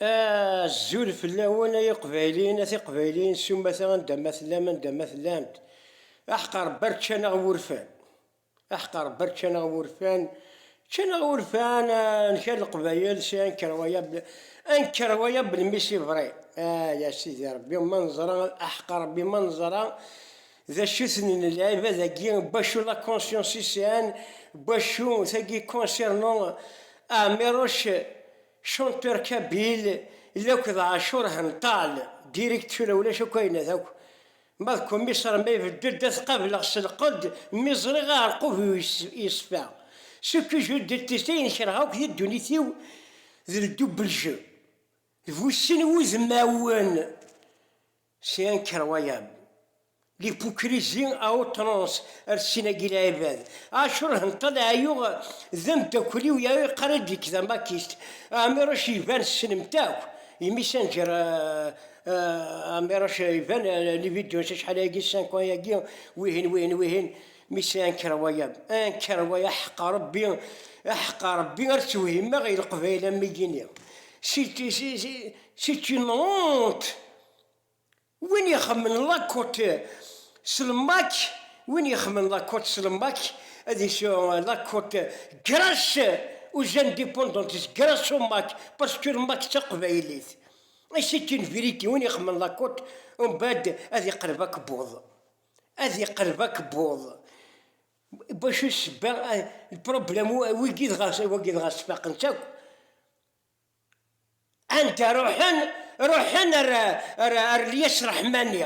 Azul fell-awen ay iqbayliyen, a tiqbayliyin s umata anda ma tellam, anda ma tellamt. Aḥeqqa Rebbi ar ččan-aɣ wurfan. Aḥeqqa Rebbi ar ččan-aɣ wurfan. Ččan-aɣ wurfan, nker leqbayel si anker waya, anker waya belmis ibri. Ay a Sidi Rebbi ma neẓra, aḥeqqa Rebbi ma neẓra. D acu-ten n lɛibad-agi n wacu la conscience i sɛan n wacu tagi concernant Aamiroc chanteur kabyle lakk d Ɛacur Henṭal direct tura ulac akk ayen ad akk ma d kumiṣer ma ibeddu-d ad t-qableɣ s lqedd mi ẓriɣ aɛerqub-iw yeṣfa ce que je deteste ayen kerheɣ akk di ddunit-iw d le double jeu d bu sin wudmawen Si anker wayam, l'hypocrisie à outrance ar sin-agi lɛibad, Acur Henṭel Ɛeyyuɣ d ameddakel-iw ya iqarr-id nek d amakist, Ɛmiruc Ivan tessnem-t akk, imi Sanǧer Ɛmiruc Ivan li vidéos acḥal ayagi cinq ans yagi wihin wihin wihin, mais si anker wayam, anker way aḥeqqa Rebbi, aḥeqqa Rebbi ar ttewhimeɣ i Leqbayel am wigi-nni, c'est une honte! Win ixemmen lakuṭ s lmak, win ixemmen lakuṭ s lmak, ad isu lakuṭ grass aux indépendantes, grass au mac, parce que lmak d taqbaylit. Et c'est une vérité, win ixemmen lakuṭ, umbɛed ad iqelleb akebbuḍ, ad iqelleb akebbuḍ. Bacu ssebba, le problème, wigi dɣa, wagi dɣa sfaqen-tt akk. Anda ruḥen? Ruḥen ar, ar, ar Lyes Reḥmani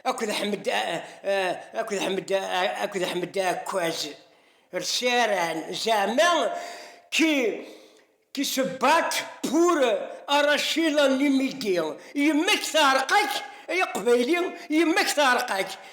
akked Ḥmed, akked Ḥmed, akked Ḥmed Aɛekkaz, rseran zeɛma qui, qui se battent pour arracher l'animité, yemma-k teɛreq-ak ay aqbayli, yemma-k teɛreq-ak.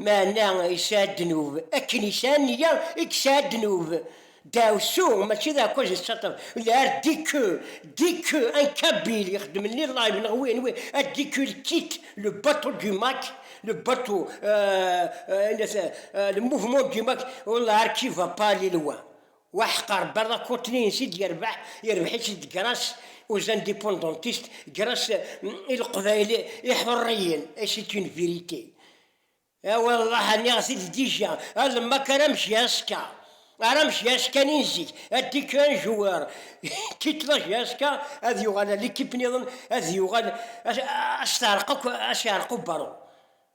Meɛna yesɛa ddnub, akken yesɛa nniya i yesɛa ddnub. Ddaɛwessu mačči d aɛekkaz n ṣṣaṭer, l'art dit que, dit que, un kabyle ixeddmen li live neɣ wi, anwi, a dit que il quitte le bateau du Mac, le bateau, euh, euh, le mouvement du Mac, on l'art qui va pas li loin. Waḥeqqa Rebbi ad akuṭni insi d-yerbeḥ, yerbeḥ-itt d gras aux indépendantistes, gras i Leqbayel iḥurriyen et c'est une vérité. A wallah niɣ-t-id dija, a lemmak ara mci aska, ara mci aska nin zik, a dit que un joueur qui te loge aska ad yuɣal a l'équipe niḍen ad yuɣal a s-teɛreq akk, a s-iɛreq ubaru.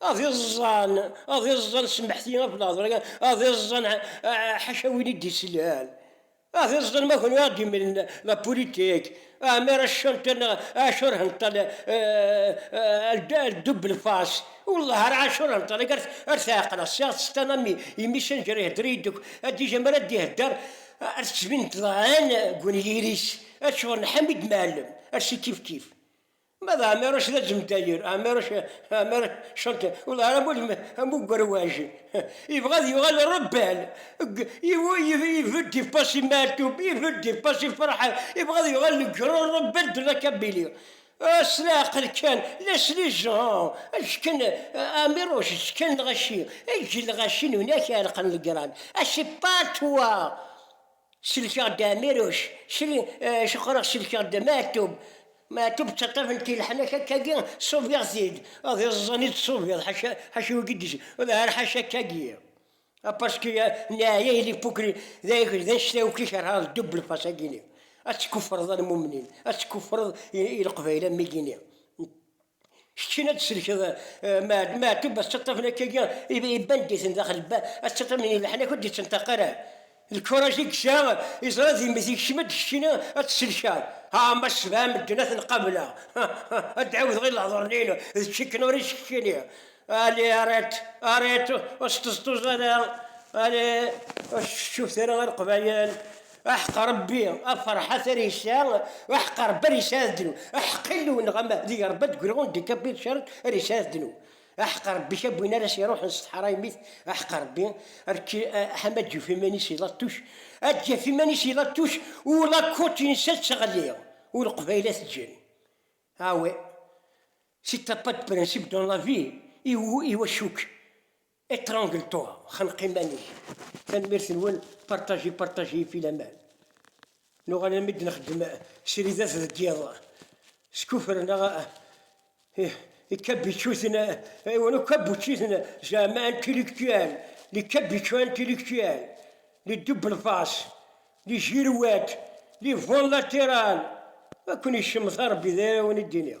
Ad iẓẓan, ad iẓẓan semmeḥti ɣef lehḍra kan, ad iẓẓan ḥaca win i d-islan, ad iẓẓan ma kunwi ad d-imlen la politique, amir a chanter neɣ a chanter henṭal elle double face, wallah ara a chanter henṭal akka ar t-ɛeqleɣ, ssiɣ ad tt-ttaɣ am imi Senǧer ihedder-iyi-d akk, Adij amir ad d-ihedder ar tettbin-d ḍɛan deg unyir-is, ad tcuɣer n Ḥamid Mɛellem, ar s-ikifkif, Ma d Ɛmiruc d aǧemtayer, Ɛmiruc, Ɛmiruc Chantal, ur d ara am, am ugerwaj. Yebɣa ad yuɣal rebel. Ibedd i Fassi Meɛtub, ibedd i Fassi Ferḥat, yebɣa ad yuɣal le grand rebel de la Kabylie. Ah, s leɛqel kan, laissez-les gens! Akken, Ɛmiruc, s kan lɣaci, eǧǧ lɣaci n unak iɛelqen legrand. Ah, c'est pas toi! Sellkeɣ-d Ɛmiruc, ceqqreɣ sellkeɣ-d Maɛtub, Maɛtub d taṭṭabt n tileḥnak akkagi ṣubiɣ-t-id, ad iẓẓan i d-tṣubiḍ ḥaca ḥaca wigi d ur ḥaca akkagi a paski neɛya ili pukri d ayagi d annect-a akk i kerheɣ d double face agini ad tkuffreḍ a lmumnin ad tkuffreḍ i leqbayel am igini n Kečč kan ad d-tsellkeḍ Maɛtub At Ttaṭṭafen akka-agi iban-d-iten daxel At Ttaṭṭafen i leḥnak ur d-ittenṭaq ara lkuraj i yesɛa yeẓra d yemmet yekcem-d kečč kan ad t-tsellkeḍ Haa ma sebɛa medden ad ten-qableɣ ad d-ɛiwdeɣ i lehdur-nni-inu d kečč kan ur is keččini Ali arrête arrête ur sṭeẓṭuẓ ara Ali ur s-teccuft ara i leqbayel Aḥeq Ṛebbi, a Ferḥa Tarisa, aḥeq a Ṛebbi ara yesɛa ddnub, aḥeq Illu-nneɣ amahdi a Ṛebbi ad d-greɣ ur d-ikabid cert ara yesɛa ddnub, aḥeq a Ṛebbi kab win ara s-iṛuḥen s teḥṛaymit, aḥeq a Ṛebbi rk ḥam ad d-yuf iman-is i Lattuc, ad d-yaf iman-is i Lattuc u lakkuṭ-ines ad teɣli u Leqbayel ad t-ǧǧen. Ah oui, c'est un pas de principe dans la vie, i, i wacu-k? Etrangle toi xneq iman-ik. Tanemmirt nwen partager partager fi laman nuɣal almi d-nexdem sridat deg yiḍ skuffer neɣ ikabicuten aywa no kabuciten zeɛma intellectuel les cabuchons intellectuels les double face les girouettes les vents latérales a ken-icemmeţ a Rebbi d ayen ara wen-id-iniɣ.